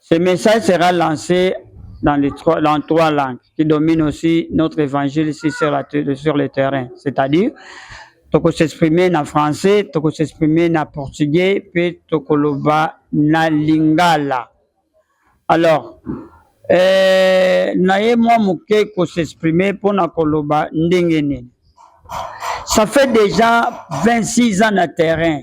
Ce message sera lancé dans, les trois, dans trois langues qui dominent aussi notre évangile ici sur, la, sur le terrain. C'est-à-dire, toko s'exprimer na français, toko s'exprimer na portugais, puis toko loba na lingala. Alors, euh, naye moi moke ko s'exprimer pour na koloba ndenge nini. Ça fait déjà 26 ans na terrain.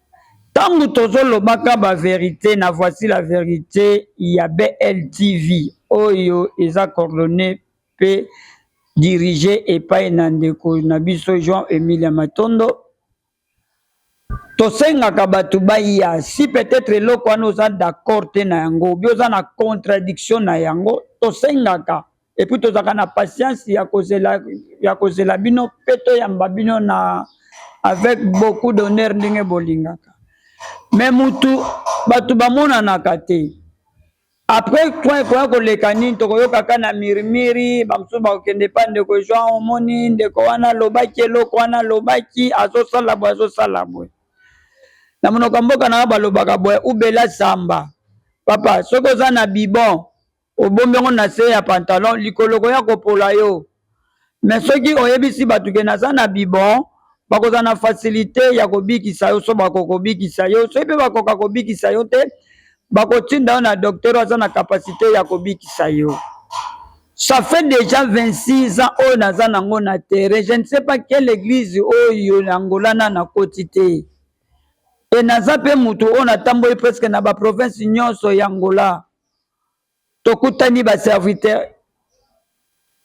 Tango tozo lobaka ba verite na voici la verite ya BLTV oyo eza coordonne pe dirige epai na ndeko na biso João Emilia Matondo. Tosengaka bato baya si peut-etre eloko wana oza d'accord te na yango ou bien oza na contradiction na yango tosengaka epuis tozalaka na patience ya kozela ya kozela bino mpe toyamba bino na avec beaucoup d'honneur ndenge bolingaka me mutu bato bamonanaka te après toi ekoya koleka nini tokoyokaka na mirimiri bamosusu bakokende epa ndeko jean omoni ndeko wana alobaki eloko wana alobaki azosala boye azosala boye na monoko ya mboka na yo balobaka boye ubela samba papa soki oza na bibon Obombi yango na se ya pantalon likolo koya kopola yo. Mais soki oyebisi batu ke naza na bibon, bakozala na facilite ya kobikisa yo soki bakoka kobikisa yo. Soki pe bakoka kobikisa yo te, bakotinda yo na docteur oyo aza na capacite ya kobikisa yo. Ça fait dejà 26 ans oyo naza nango na terrain, je ne sais pas quelle eglise oyo na Angola nanu nakoti te. Et naza pe mutu oyo natamboli presque na ba provinces nionso ya Angola. tokutani ba serviteur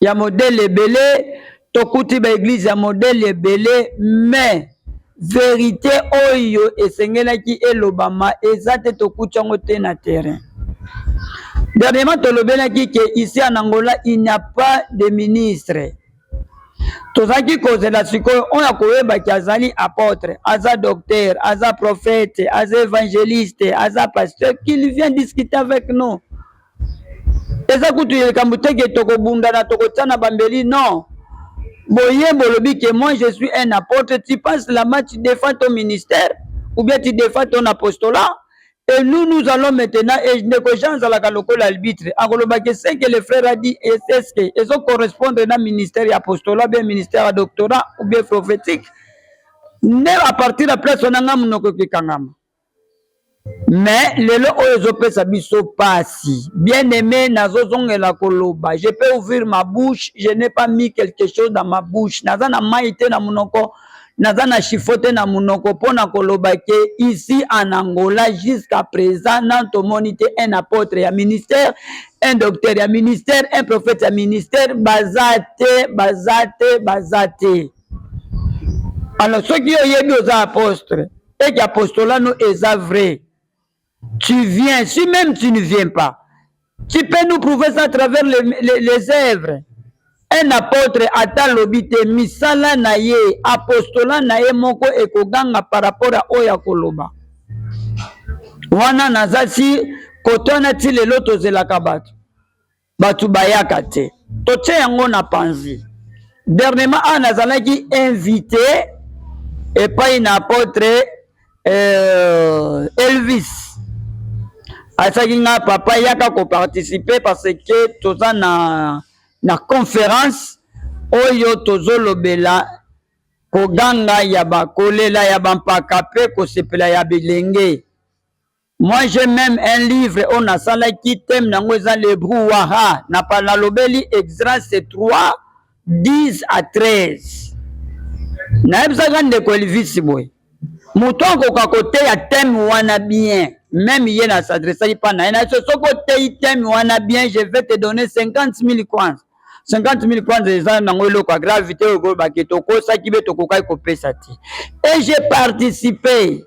ya modele ebele tokuti ba eglise ya modele ebele mais verite oyo esengelaki elobama eza te tokuti yango te na terrain dernièrement tolobelaki ke ici en angola il n'y a pas de ministre Tozalaki kozela sikoyo oyo akoyebaki azali apotre, aza docteur, aza prophète, aza evangeliste, aza pasteur, qu'il vient discuter avec nous. Eza kutu likambo te ke tokobundana tokotiana bambeli, non. Boye bolobi ke moi je suis un apôtre, tu passes là-bas, tu défends ton ministère, ou bien tu défends ton apostolat, Et nous, nous allons maintenant, et ndeko Jean azalaka lokola arbitre, akoloba que ce que le frère a dit, est-ce que ezo correspondre na ministère ya apostolat, bien ministère ya doctorat, ou bien prophétique, nde à partir ya place wana nga monoko ekekangama. Mais lelo oyo ezopesa biso pasi. Bien aimé, nazozongela koloba. Je peux ouvrir ma bouche, je n'ai pas mis quelque chose dans ma bouche. Naza na mayi te na monoko. naza na chifote na munoko mpo na koloba ke ici en angola jusqu'à présent nanu tomoni te un apôtre ya ministère un docteur ya ministère un prophète ya ministère baza te baza te baza te alors soki yo oyebi oza apostre eke apostola no eza vrai Tu viens, si même tu ne viens pas, tu peux nous prouver ça à travers les, les, les œuvres. Un apôtre ata alobi te misala na ye apostola na ye moko ekoganga par rapport a oyo akoloba wana naza si kote wana ti lelo tozelaka bato bato bayaka te totie yango na panzi dernièrement awa nazalaki invité epai na apotre euh, elvis asaki nga papa yaka koparticipe parce que toza na na conférence oyo tozolobela koganga ya bakolela ya bampaka mpe kosepela ya bilenge Moi j'ai meme un livre oyo nasalaki thème nango eza le brouhaha na nalobeli exrase 3 10 à 13 nayebisaka ndeko elvisi boye moto akoka koteya thème wana bien meme ye na s'adressaki mpa na ye na so soki oteyi thème wana bien je vais te donner 50 000 kwanza 50 000 kwanza eza nango eloko ya gravité oyo kolobaki tokosaki mpe tokokaki kopesa te et j'ai participé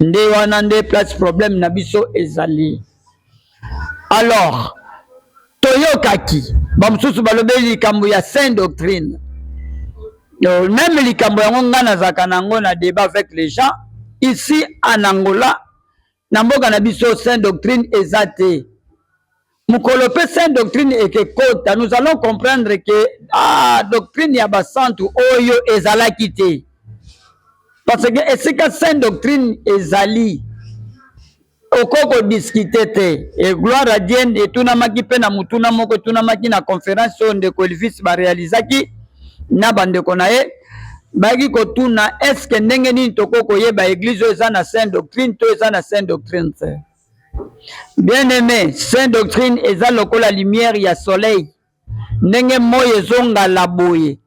nde wana nde place problème na biso ezali alors toyokaki bamosusu balobeli likambo ya saint doctrine euh, meme likambo yango ngai nazalaka na yango na débat avec les gens ici en angola na mboka na biso saint doctrine eza te mokolo pe saint doctrine ekekota nous allons comprendre que ah, doctrine ya basantu oyo ezalaki te parce que esika saint doctrine ezali okoki kodiskite te e gloire a dien etunamaki mpe na motuna moko etunamaki na conference oyo ndeko elvis barealizaki na bandeko na ye bayaki kotuna eske ndenge nini tokoki koyeba eglize oyo eza na saint doctrine to eza na saint doctrine te Bien aime, saint doctrine eza lokola lumière ya soleil ndenge moi ezongala boye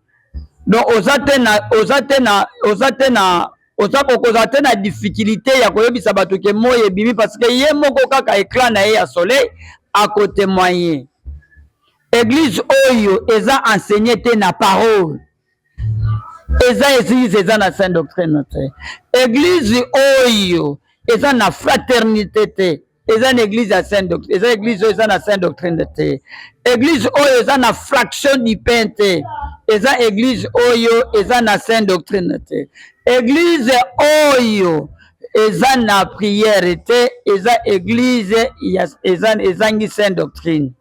donc oza te na oza te na oza te na oza kokozala te na difficulté ya koyebisa bato ke moi ebimi parce que ye moko kaka eclat na ye ya soleil akotemoigne. Eglise oyo eza enseigne te na parole. eza eglise eza na saint doctrine te eglise oyo eza na fraternité te eza na eglise ya saint doctrine eza eglise oyo eza na saint doctrine te eglise oyo eza na fraction du pain te eza eglise oyo eza na saint doctrine te eglise oyo eza na prière te eza eglise ya ezangi saint doctrine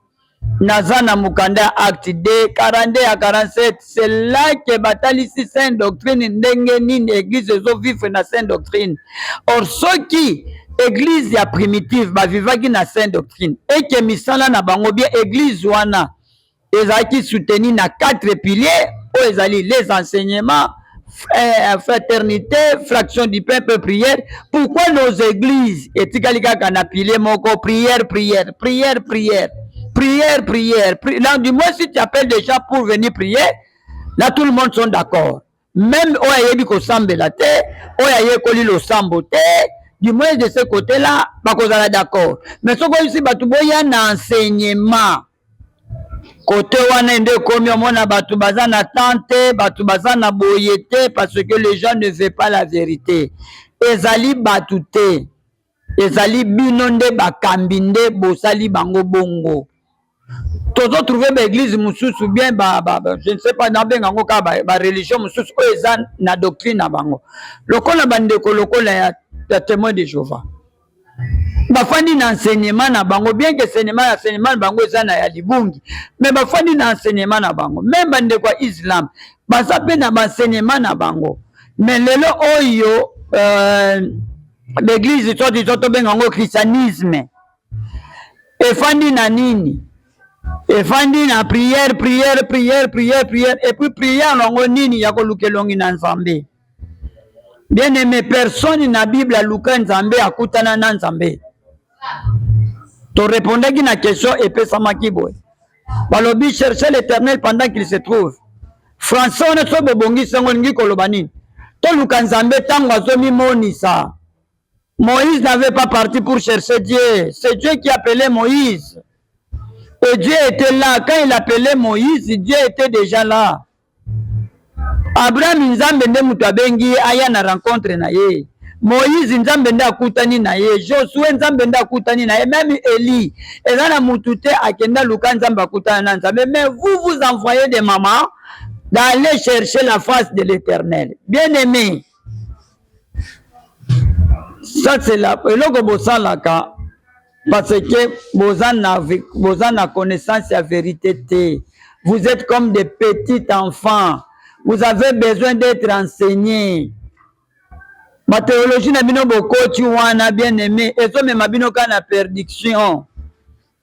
Naza na mokanda ya acte de 42 ya 47 c'est là que batalisi sainte doctrine ndenge nini eglise ezo vivre na sainte doctrine or soki eglise ya primitive bavivaki na sainte doctrine eke misala na bango bie eglise wana ezalaki soutenu na quatre piliers oyo ezali les enseignements eh, fraternité fraction du peuple prière pourquoi nos églises etikali kaka na pilier moko prière prière prière prière prière prière pri... là du moins si tu appelles des gens pour venir prier là tout le monde sont d'accord même oyo ayebi kosambela te oyo ayekoli losambo te du moins de ce côté là bakozala d'accord mais soki oyebisi bato boya na enseignement Cote wana nde ekomi omona bato baza na temps te, bato baza na boye te parce que les gens ne veulent pas la verite. Ezali bato te, ezali bino nde bakambi nde bosali bango bongo. Tozo trouver ba eglise mosusu bien ba, ba, ba je ne sais pas nabenga yango kaka ba, ba religion mosusu oyo eza na doctrine na bango lokola bandeko lokola ya, ya témoin de Jehovah. bafandi na enseignement na bango bien que enseignement ya enseignement na bango eza na ya libungi mais bafandi na enseignement na bango meme bandeko ya islam baza mpe na baenseignement na bango mais lelo oyo euh, baeglise to diso tobenga yango christianisme efandi na nini efandi na prière prière prière prière prière epuis prière na yango nini ya koluka elongi na nzambe Bien aime, personne na Bible aluka Nzambe akutana na Nzambe. To repondaki na question epesamaki boye. Balobi chercher l'Éternel pendant qu'il se trouve. Français wana soki bobongisi yango olingi koloba nini? Toluka Nzambe ntango azomimonisa. Moïse n'avait pas parti pour chercher Dieu. C'est Dieu qui appelait Moïse. Et Dieu était là. Quand il appelait Moïse, Dieu était déjà là. Abraham Nzambe nde moto abengi ye aya na rencontre na ye. Moïse Nzambe nde akutani na ye. Josue Nzambe nde akutani na ye. Meme Elie eza na moto te akenda luka Nzambe akutana na Nzambe. Mais vous vous envoyez des mamans d'aller chercher la face de l'Éternel. Bien aimé. ça c'est la eloko bosalaka parce que boza na boza na connaissance ya verite te vous êtes comme des petits enfants vous avez besoin d'être enseigné bateologie na bino bokoti wana bien aimé ezomema bino kaka na perdiction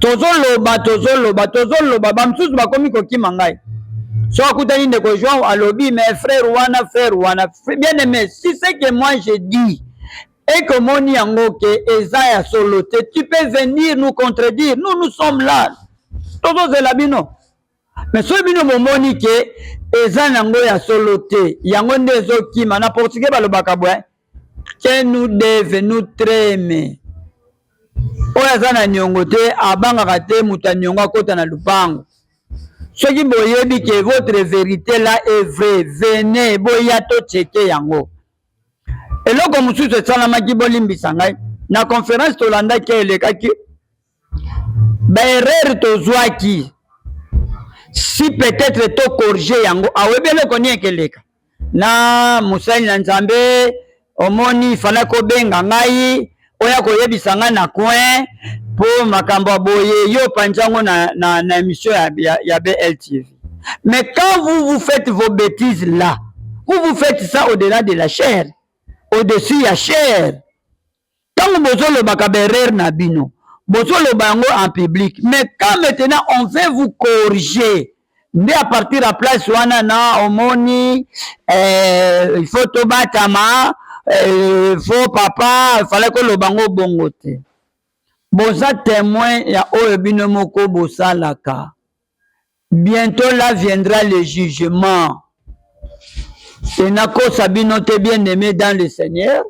tozoloba tozoloba tozoloba bamosusu bakomi kokima ngai so akutani ndeko joan alobi mais frère wana frère wana bien aimé si ce que moi je dis et que moni yango ke eza ya solo te tu peux venir nous contredire nous nous sommes là tozozela bino mais soki bino bomoni ke eza nango ya solo te yango nde ezokima na portugais balobaka bwe ke nous deve nous treme oyo aza na niongo te abangaka te moto ya niongo akota na lupango soki boyebi ke votre verite la est vrai vene boya to cheke yango eloko mosusu esalamaki bolimbisa ngai na conference tolandaki elekaki ba erreur tozwaki si peut-être to corriger yango awebi eloko nini ekeleka na mosali na nzambe omoni fana kobenga ngai oya koyebisa ngai na coin mpo makambo ya boye yo opanzi yango na, na, na émission ya, ya, ya bltv mais quand vous vous faites vos bêtises là vous vous faites ça au-delà de la chair au-dessus ya chair Tango bozo lobaka ba erreur na bino, bozo loba yango en public, mais quand maintenant on veut vous corriger, nde à partir ya place wana na omoni eh, il faut tobatama eh, faut papa il fallait koloba ngo bongo te boza temoin ya oyo bino moko bosalaka Bientot là viendra le jugement. Et nakosa bino te bien aimé dans le Seigneur.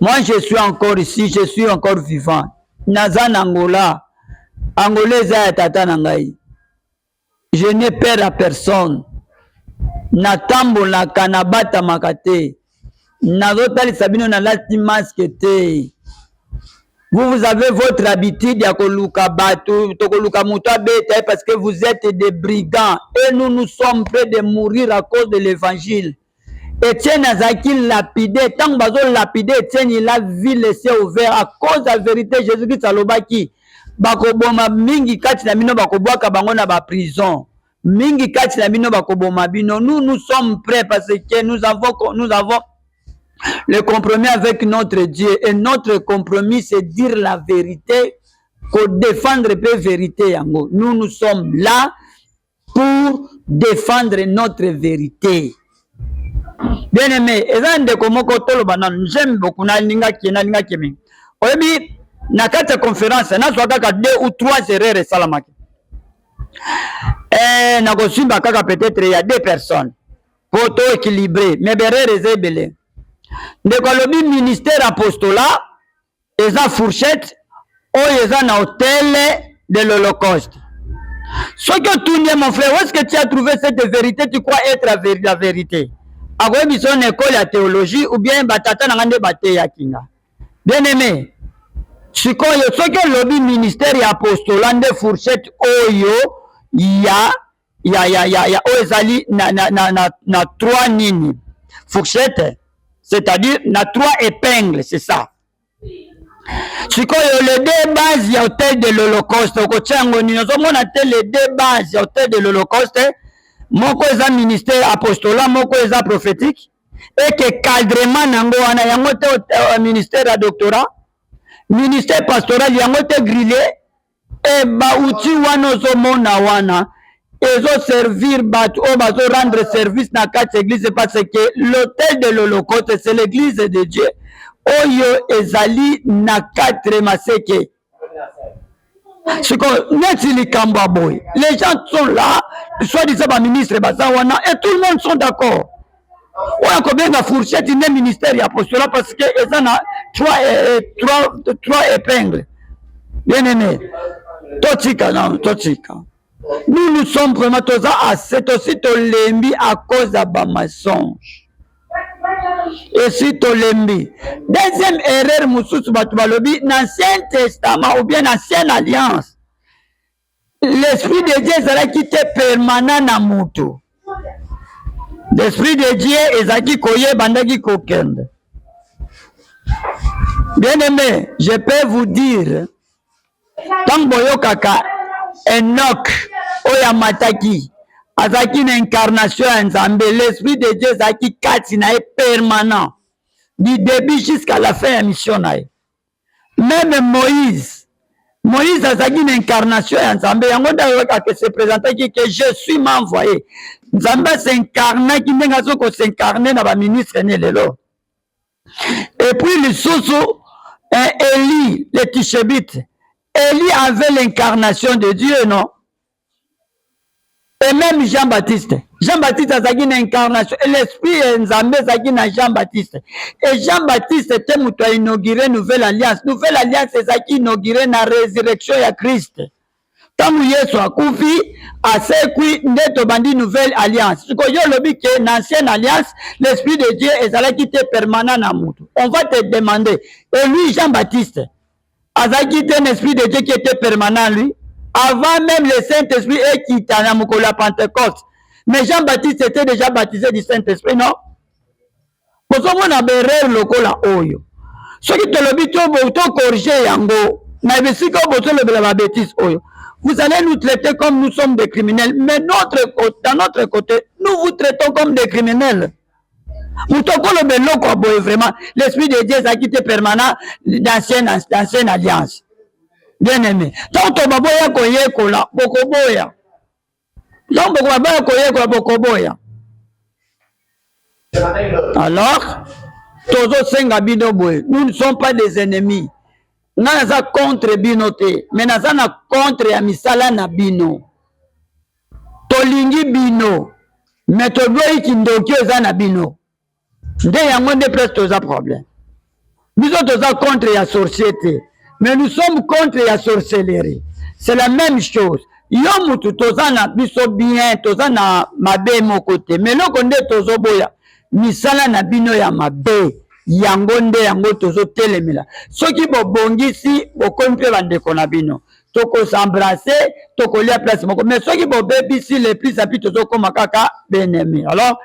Moi je suis encore ici, je suis encore vivant. Naza na Angola. Angola eza ya tata na ngai. Je n'ai peur à personne. Natambolaka nabatamaka te. nazotalisa bino nalati maske te vous vous avez votre habitude ya koluka bato tokoluka moto abeta ye parce que vous êtes des brigands et nous nous sommes près de mourir à cause de l'évangile etienne azalaki lapide ntango bazolapide etienne il a vu laisse ouvert à cause ya vérité jésus christ alobaki bakoboma mingi kati na bino bakobwaka bango na baprison Mingi kati na bino bakoboma bino. Nous nous sommes prêts parce que nous avons nous avons le compromis avec notre Dieu et notre compromis c'est dire la vérité, ko défendre pe vérité yango. Nous nous sommes là pour défendre notre vérité. Bien aimé, eza ndeko moko toloba nanu, j'aime beaucoup na linga ki na linga ki mingi. Oyebi na kati ya conférence nazwa kaka deux ou trois erreurs esalamaki. eh, nakosimba kaka peut-être ya deux personnes po to équilibré mais berere eza ebele ndeko alobi ministère apostola eza fourchette oyo eza na hotel de l'holocauste soki otunie mon frère est ce que tu as trouvé cette vérité tu crois être la vérité akoyebi biso na ekole ya théologie ou bien batata na ngai nde bateyaki nga Bien aime, sikoyo soki olobi ministère ya apostolat nde fourchette oyo ya ya ya ya, ya oyo ezali na na na na, na trois nini fourchette c'est-à-dire na trois épingles c'est ça sikoyo le deux base ya hôtel de l'holocauste okotya yango nini ozomona te le deux base ya hôtel de l'holocauste moko eza ministère apostolat moko eza prophétique et que cadrement nango wana yango te euh, ministère ya doctorat ministère pastoral yango te grille e bauti wana ozomona wana ezoservir bato oyo bazorendre service na kati ya eglise parce que l'hôtel de l'holocauste c'est l'église de dieu oyo ezali na 4 maseke sikoyo neti likambo ya boye les gens sont là soit disant baministre baza wana et tout le monde sont d'accord oyo akobenga fourchette nde ministère ya postola parce que eza na trois, eh, trois, trois épingle bien aimé totika nano totika Nous nous sommes vraiment toza assez tosi tolembi à cause ya ba mensonge esi tolembi deuxième erreur mosusu bato balobi na ancien testament ou bien na ancienne alliance l'esprit de dieu ezalaki te permanent na motu l'esprit de dieu ezalaki koya ebandaki kokende bien aimé je peux vous dire ntango boyokaka enok oyo amataki azalaki na incarnation ya nzambe l'esprit de dieu ezalaki kati na ye permanent du début jusqu'à la fin ya mission na ye meme moïse moïse azalaki na incarnation ya nzambe yango nde ayokaka se présentaki ke je suis m'envoye nzambe asincarnaki ndenge azoki kosincarne na baministre ne lelo epuis lisusu eh, eli le tishebite eli avait l'incarnation de dieu non et même jean baptiste jean baptiste azalaki na incarnation et l'esprit ya nzambe ezalaki na jean baptiste et jean baptiste te moto ainaugure nouvelle alliance nouvelle alliance ezalaki inaugure na résurrection ya christ ntango yesu akufi asekwi nde tobandi nouvelle alliance siko yo olobi ke na ancienne alliance l'esprit de dieu ezalaki te permanent na moto on va te demander et lui jean baptiste azalaki te na esprit de dieu qui était permanent lui avant même le saint esprit ekita na mokolo ya pentecoste mais jean baptiste était déjà baptisé du saint esprit non bozomona berere lokola oyo soki tolobi tokorige yango na bisika oyo bozolobela babetise oyo vous allez nous traiter comme nous sommes des criminels mais notre dans notre côté nous vous traitons comme des criminels moto okoloba eloko ya boye vraiment l'esprit de dieu ezalaki te permanent d'ancienne alliance bien aimé ntango tobaboya koyekola bokoboya Donc bokoba baya koyekola bokoboya. Alors tozosenga bino boye nous ne sommes pas des ennemis ngai naza contre bino te mais naza na contre ya misala na bino tolingi bino mais toboyi kindoki eza na bino nde yango nde place toza problème biso toza contre ya sorcier te mais nous sommes contre ya sorcellerie c'est la même chose yo mutu toza na biso bien toza na mabe moko te mais eloko nde tozoboya misala na bino ya mabe yango nde yango tozotelemela soki bobongisi bokomi mpe bandeko na bino tokosembrase tokolia place moko mais soki bobebisi le plus api tozokoma kaka benemi alors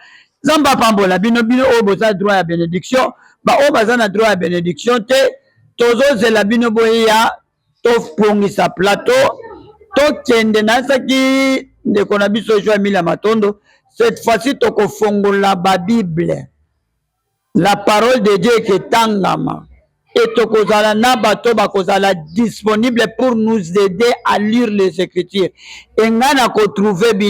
Nzambe apambola bino bino oyo boza droit ya benediction baoyo baza na droit ya benediction te tozozela bino boyeya tobongisa plateau tokende nayesaki ndeko na biso jo emile ya matondo cette fois-ci tokofongola babible la parole de dieu eketangama e tokozala na bato bakozala disponible pour nous aider à lire les écritures engai na kotrouve bino